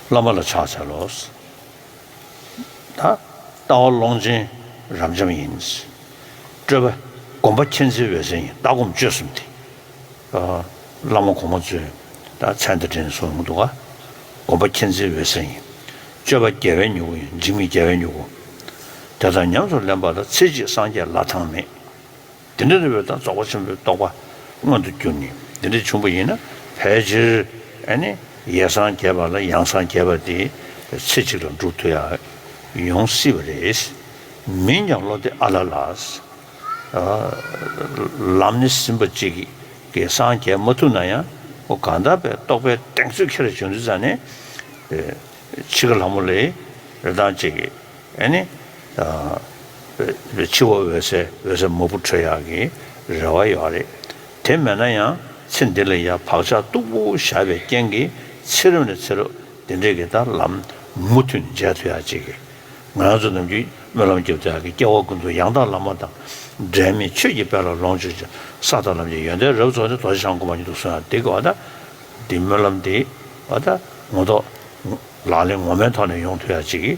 བླ་མ་ལ་ཕྱག་འཚལ་ལོ། དང། ལྟ་བ་ཀློང་ཆེན་རབ་འབྱམས་ཡིན། སྤྲོས་པ་བསྒོམ་པ་མཁྱེན་བརྩེ་འོད་གསལ་ཡིན། ལྟ་སྒོམ་སྤྱོད་གསུམ་སྟེ། བླ་མ་གོང་མ་གཙོས། མཚན་དང་དྲིན་གཟོ་འོང་དུ་བ། བསྒོམ་པ་མཁྱེན་བརྩེ་འོད་གསལ་ཡིན། སྤྱོད་པ་རྒྱལ་བའི་མྱུ་གུ་ཡིན། འཇིགས་མེད་རྒྱལ་བའི་མྱུ་གུ། དེ་དག་ཉམས་སུ་ལེན་པ་ལ་ཚེ་གཅིག་སངས་རྒྱས་ལ་ཐང་མེད། འདི་འདྲ་རེ་བས་ད་རྫོགས་པ་ཆེན་པོའི་རྟོགས་པ་མངོན་དུ་གྱུར་ནས་འདི་འདྲའི་ཆུང་པོ་ཡིན་ན་ཕལ་ཆེར། ནི། ཡེ་སངས་རྒྱས་པ་ལ་ཡང་སངས་རྒྱས་པ་དེ། ཚེ་གཅིག་ལ་འགྲུབ་ཐུབ་ཡ། ཡོང་སྲིད་པ་རེད། མིན་ཀྱང་བློ་བདེ་ཨ་ལ་ལ། ལམ་ནི་ཟིན་པ་གཅིག་གིས་སངས་རྒྱས་མ་ཐུབ་ན་ཡང། གང་དག་པའི་རྟོགས་པའི་གདེང་ཚོད་ཁྱེར་བྱུང་དུས་ཙམ་ནས། འཆི་ཁ་ལྷ་མོ་ལས། རེ་དང་གཅིག། ཨེ་ནི། འཆི་བ་འོད་གསལ་འོད་གསལ་མ་བུ་ཁྲོད་ཡག་གི་རེ་བ་ཡོད་རེད། དེ་མེད་ན་ཡང་ཚེ་འདི་ལ་ཡང་བག་ཆགས་སྟུག་པོ་བཞག་པའི་རྐྱེན་གྱིས་ཚེ་རབས་ནས་ཚེ་རབས་འདི་འདྲའི་གི་དང་ལམ་མུ་མཐུད་ནས་མཇལ་ཐུབ་ཡག་ཅིག། ང་ཚོ་རྣམས་ཀྱིས་སྨོན་ལམ་རྒྱབ་ཏུ་ཡག་གི་སྐྱེ་བ་ཀུན་ཏུ་ཡང་དག་བླ་མ་དང་འབྲལ་མེད་ཆོས་ཀྱི་དཔལ་ལ་ལོངས་སྤྱོད་ཅིང་ས་དང་ལམ་གྱི་ཡོན་ཏན་རབ་རྫོགས་ནས་རྡོ་རྗེ་འཆང་སྒོམ་པ་ཉིད་དུ་གསོན་ཡག་འདི་གི་འདི་སྨོན་ལམ་འདི་ངོ་ཐོག་ལག་ལེན་ངོ་མའི་ཐོག་ནས་ཡོང་ཐུབ་ཡག་ཅིག།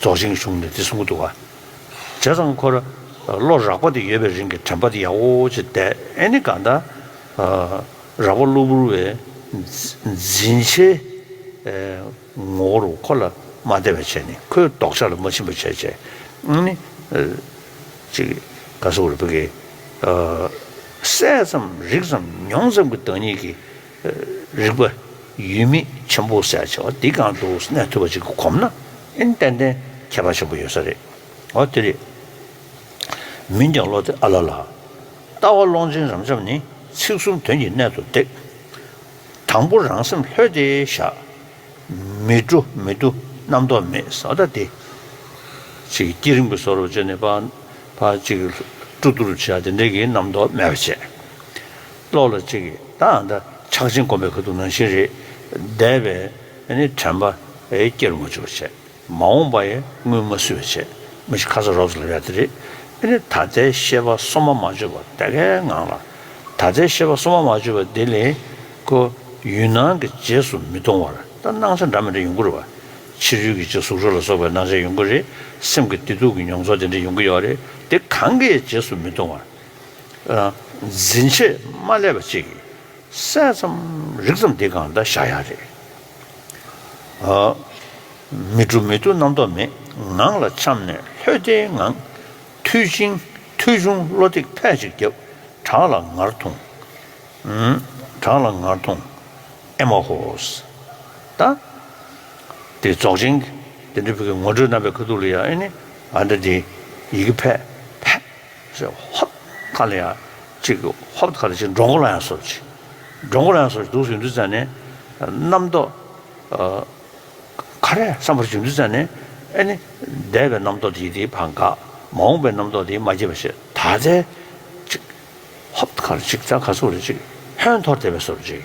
རྫོགས་ཆེན་གཞུང་ནས་འདི་གསུང་གི་འདུག་ག། རྗེ་རང་འཁོར་ལོ་རགས་པ་དེ་ཡོད་པའི་རིང་གི་དྲན་པ་དེ་ཡག་བོ་ཅིག་བསྡད་ཨེ་ནི་གང་ལྟར། རགས་པ་གློ་བུར་བའི་འཛིན་བྱའི་ངོ་བོ་རུ་འཁོར་ལ་མ་བསྡད་པ་བྱས་ནས་ཁོའི་ལྡོག་ཆ་ལ་མ་ཕྱིན་པ་བྱས་བྱས་ཨེ་ནི། ཅིག་དགའ་བསུ་བར་བུ་གའི། གསལ་ཙམ་རིག་ཙམ་མྱོང་ཙམ་གྱི་བདག་ཉིད་ཀྱི་རིག་པ་ཡུལ་མེད་ཆེན་པོ་གསལ་བྱེད་བ་འདི་གང་དུ་གནས་ཐུབ་པ་ཅིག་གི་གོམས་ན་ཨིན་ཏན་ཏན་ཁྱད་པར་ཆེན་པོ་ཡོད་ས་རེད་འོ་དེ་རེད། མིན་ཀྱང་བློ་དེ་ཨ་ལ་ལ། ལྟ་བ་ཀློང་ཆེན་རབ་འབྱམས་ནི་ཚིག་གསུམ་དོན་གྱི་གནད་དུ་འདེགས། དང་པོ་རང་སེམས་ལྷོད་དེ་བཞག། མི་སྤྲོ་མི་བསྡུ་རྣམ་རྟོག་མེད་བཟའ་ཟླ་སྟེ། ཅིག་བསྐྱེད་རིམ་གྱི་སོར་བཅད་ནས་པ། ཅིག་སྤྲོ་བསྡུ་རུ་བྱས་དེ་འདྲ་གི་རྣམ་རྟོག་མེད་པར་བྱས། བློ་ལ་གཅིག་གིས་ད་ལྟ་ཕྱག་ཆེན་བསྒོམ་པའི་གོ་ཐུབ་ནང་བཞིན་རེད། འདས་པའི་དྲན་པ་སྐྱེར་མ་བཅུག་པ་བྱས། མ་འོངས་པ་ཡི་དངུལ་མ་བསུས་པ་བྱས། མི་ཤི་ཁ་ས་རོགས་ལ་ཡ་དེ་རེད། ད་ལྟའི་ཤེས་པ་སོ་མ་མ་བཅོས་པ་དེ་གའི་ངང་ལ། ད་ལྟའི་ཤེས་པ་སོ་མ་མ་བཅོས་པ་དེ་ལས་ཀོ། ཡུལ་སྣང་གི་རྗེས་སུ་མི་མཐོང་བར་ད་སྣང་ཆ་འདྲ་མི་འདྲ་ཡོང་གི་རེད་བ། ཕྱི་རོལ་གྱི་གཅིག་གཟུགས་རོ་ལ་སོགས་པའི་སྣང་ཆ་ཡོང་གི་རེད། སེམས་ཀྱི་བདེ་སྡུག་གི་མྱོང་ཚོར་དེ་འདྲ་ཡོང་གི་ཡོད་རེད་དེ་གང་གི་རྗེས་སུ་མི་མཐོང་བར། འཛིན་བྱེད་མ་བསླད་པ་ཅིག། གསལ་ཙམ་རིག་ཙམ་འདི་གང་འདྲ་བཞག་ཡག་རེད། མི་འགྲོ་མི་ཐུག་རྣམ་རྟོག་མེད་ངང་ལ་འཁྱམས་ནས་ལྷོད་བདེའི་ངང། མཐུ་བྱིན་མཐུ་ཕྱུང་བློ་གཏིག་ཕལ་ཅིག་བརྒྱབ། བྲག་ལ་ངར་ཐུང། བྲག་ལ་ངར་ཐུང། ཨེ་མ་ཧོ། ད། དེ་རྫོགས་ཆེན། དེ་འདྲ་ཕིག་གི་ངོ་སྤྲོད་རྣམ་པའི་ཁ་ཐུག་ལ་ཡང་ཨེ་ནི། ང་འདྲ་དེ། ཡི་གེ་ཕལ། ཞེས་ཧཱུྃ། མཁའ་ལ་ཡང་གཅིག་གི་ཧཱུྃ་མཁའ་ལ་གཅིག་འགྲོ་མགོ་ལ་ཡང་སོར་གཅིག། འགྲོ་མགོ་ལ་ཡང་སོར་གཅིག་དུག་གསུམ་འདུས་བཙའ་ནི། རྣམ་རྟོག། ཁ་རས་སམ་བར་གཅིག་འདུས་བཙའ་ནི། ཨེ་ནི། འདས་པའི་རྣམ་རྟོག་དེའི་དེའི་བར་འགག། མ་འོངས་པའི་རྣམ་རྟོག་དེའི་མ་སྐྱེས་པ་ཞེས་དག་བཙའ། གཅིག། ཧཱུྃ་མཁའ་ལ་གཅིག་རྩ་ཁ་སོར་གཅིག། ཧོན་འཐོར་དེ་བས་སོར་གཅིག།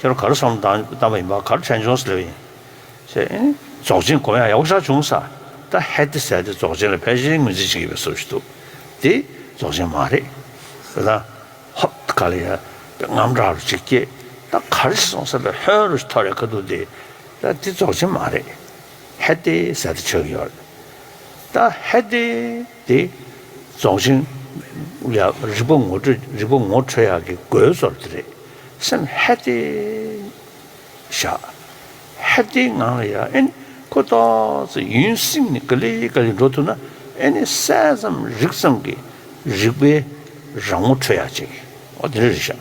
ཁྱོད་གར་སོང་བལྟམས་པ་ཡིན་པ་གར་ཁྲེན་ཆུང་ཟེར་བ་ཡིན། ཞེས། རྫོགས་ཆེན་གོ་ཡང་ཡག་པོ་ཆགས་བྱུང་ས། ད་ཧད་དེ་ཟད་དེ་རྫོགས་ཆེན་ལ་ཕལ་ཆེར་ངོས་འཛིན་བྱེད་ཀྱི་མེད་བཟོ་བཞིན་འདུག་དེ་རྫོགས་ཆེན་མ་རེད། དེ་ལ། ཧོ། ག་ལ་ཡ། རྔམ་སྐྲག་རུ་ཅིག་སྐྱེས། ད་གར་ཞིག་སོང་ས་པའི་ཧོན་རུ་ཞིག་ཐོར་ཡ་ག་འདུག་དེ། ད་དེ་རྫོགས་ཆེན་མ་རེད། ཧད་དེ་ཟད་དེ་ཆགས་ཀྱི་ཡོད་རེད། ད་ཧད་དེ། ཏེ། རྫོགས་ཆེན། ཡག་རིག་པ་ངོ་སྤྲོད་རིག་པ་ངོ་འཕྲོད་ཡག་གི་དགོས་ཚོར་དེ་རེད། སེམས་ཧད་སྟེ། བཞག། ཧད་སྟེའི་ངང་ལ་ཡ་ཨེ་ནི་ཁོ་ལྟོགས་ཚེ་ཡུན་སྲིང་ནས་ག་ལེ་ག་ལེ་འགྲོ་ཐུབ་ན་ཨེ་ནི་གསལ་ཙམ་རིག་ཙམ་གི་རིག་པའི་རང་ངོ་འཕྲོད་ཡག་བྱེད་ཀྱི་ཨོ་དེ་རེད་བཞག།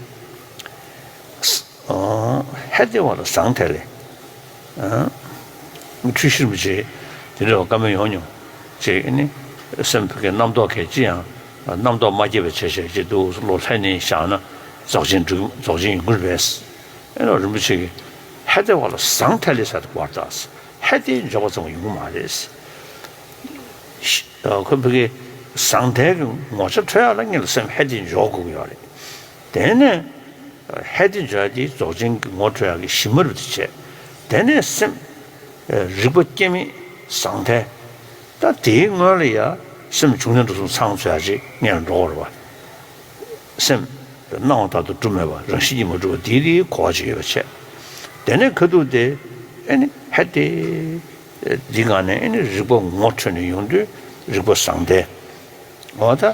ཧད་དེ་བ་ལ་བཟང་ཐལ། འཁྲུལ་ཤིར་མི་བྱེད། དེ་འདྲ་བ་བཀའ་མོལ་ཡོང་མྱོང། ཅེས་ནི། སེམས་དགེ་རྣམ་རྟོག་གེ་ཅི་ཡང། རྣམ་རྟོག་མ་སྐྱེས་པའི་ཕྱིར་ཞེས་བགྱིད་འདུག་བློ་ལྷད་ནས་བཞག་ན། རྫོགས་ཆེན་འགྲུབ་རྫོགས་ཆེན་ཡིན་ཁུལ་བས། ཨེ་ནོ་རིན་པོ་ཆེ་གིས། ཧད་དེ་བ་ལ་བཟང་ཐལ་ལས་སད་བར་དག། ཧད་དེ་འཇོག་པ་ཙམ་གྱིས་ཡོང་གི་མ་རེད། ཁོས་བོད་སྐད་བཟང་ཐལ་གྱི་ངོ་ཆ་འཕྲོད་ཡག་ལ་ངེད་ལ་སེམས་ཧད་དེ་འཇོག་དགོས་ཀྱི་ཡོད་རེད། དེ་ནས་ཧེ་ཏི་འཇའ་དེའི་རྫོགས་ཆེན་གྱི་ངོ་སྤྲོད་ཡང་གི་གཞི་མ་རུ་དེ་བྱས། དེ་ནས་སེམས། རིག་པ་སྐྱེ་མེད་ཟང་ཐལ། ད་དེའི་སྔོན་ལ་ཡང་སེམས་བྱུང་ཡུལ་འགྲོ་སོང་ཚང་ཚོད་ཡང་རེ་ལྔས་འགྲོ་བར་བ། སེམས། སྣང་བ་དག་ཏུ་གྲུབ་མེད་པ་རང་བཞིན་གྱིས་མ་གྲུབ་པ་དེའི་དེའི་གོ་བ་ཅིག་ཡོད་པར་བྱས། དེ་ནས་ཁ་ཐུག་སྟེ། ཨེ་ནི་ཧེ་ཏི། འདི་གང་ནས་ཨེ་ནི་རིག་པ་ངོ་འཕྲོད་ནས་ཡོང་དུས་རིག་པ་ཟང་ཐལ། འོ་ད།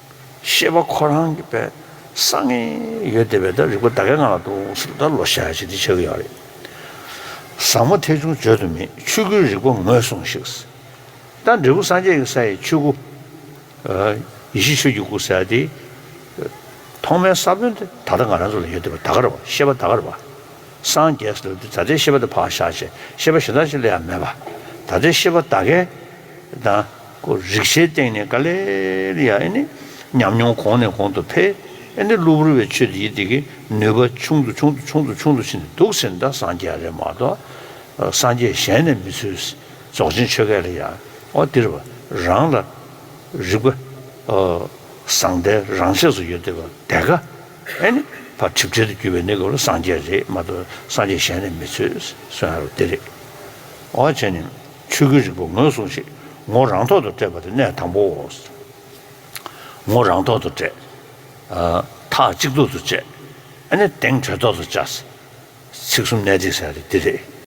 ཤེས་པ་ཁོ་རང་གི་བས་སང་ངེ་ཡོད་དེ་བས་ད་རིག་པ་ད་གའི་ང་ལ་འདུག་ཟེར་ད་ལོ་ཤ་ཆེ་འདི་ཆགས་ཀྱི་ཡོད་རེད་བཟང་མོ་ཐེ་ཆུང་བརྗོད་དུ་མེད་ཆོས་སྐུའི་རིག་པ་ངོས་བཟུང་ཞིག་ད་འབྲས་བུ་སངས་རྒྱས་ཀྱི་ས་ཡི་ཆོས་སྐུ་ཡེ་ཤེས་ཆོས་ཀྱི་སྐུ་ཟེར་དེ་ཐོག་མའི་ས་བོན་དེ་ད་ལྟ་ང་རང་ཚོ་ལ་ཡོད་དེ་བས་ད་གར་བ་ཤེས་པ་ད་གར་བ་སངས་རྒྱས་སུ་སླེབས་དུས་ད་ལྟའི་ཤེས་པ་དེ་ཕག་ཤ་ཆེ་ཤེས་པ་གཞན་དག་ཅིག་ལས་ཡང་མེད་པ་ད་ལྟའི་ཤེས་པ་ད་གའི་ད་ཀུ་རིག་ཤའི་སྟེང་ནས་ཀ་ལེ་རི་ཡ་ཨེ་ནི་ཉམས་མྱོང་གོང་ནས་གོང་དུ་འཕེལ་ཨེ་ནི་གློ་བུར་བའི་ཆོས་འདི་ཡི་དེ་གི་ནུས་པ་ཆུང་དུ་ཆུང་དུ་ཆུང་དུ་ཆུང་དུ་ཕྱིན་ཏེ་འདུག་ཟེར་ན་ད་སངས་རྒྱས་རེད་མ་གཏོགས་སངས་རྒྱས་གཞན་ནས་མི་ཚུལ་རྫོགས་ཆེན་ཆོས་སྐད་ལ་ཡ་ཨོ་འདིར་བ་རང་ལ་རིག་པ་བཟང་ལྟའི་རང་ཆས་སུ་ཡོད་དེ་བ་དེ་ཀ་ཨེ་ནི་བ་གྲིབ་བྲལ་དུ་གྱུར་པའི་ནི་གོ་ལ་སངས་རྒྱས་རེད་མ་གཏོགས་སངས་རྒྱས་གཞན་ནས་མི་ཚུལ་སོན་ཨ་རོ་འདི་རེད་ཨོ་བྱས་ནས། ཆོས་སྐུའི་རིག་པ་ངོས་བཟུང་ཞིག་ངོ་རང་ཐོག་ཏུ་སྤྲད་པ་དེ་གནད་དང་པོའོ། ངོ་རང་ཐོག་ཏུ་སྤྲད། མཐའ་གཅིག་ཏུ་ཏུ་བཅད། ཨ་ནི་དེང་གྲོལ་ཐོག་ཏུ་བཅའ། ཚིག་གསུམ་གནད་བསྒྲིགས་ཟེར་བ་དེ་འདི་རེད།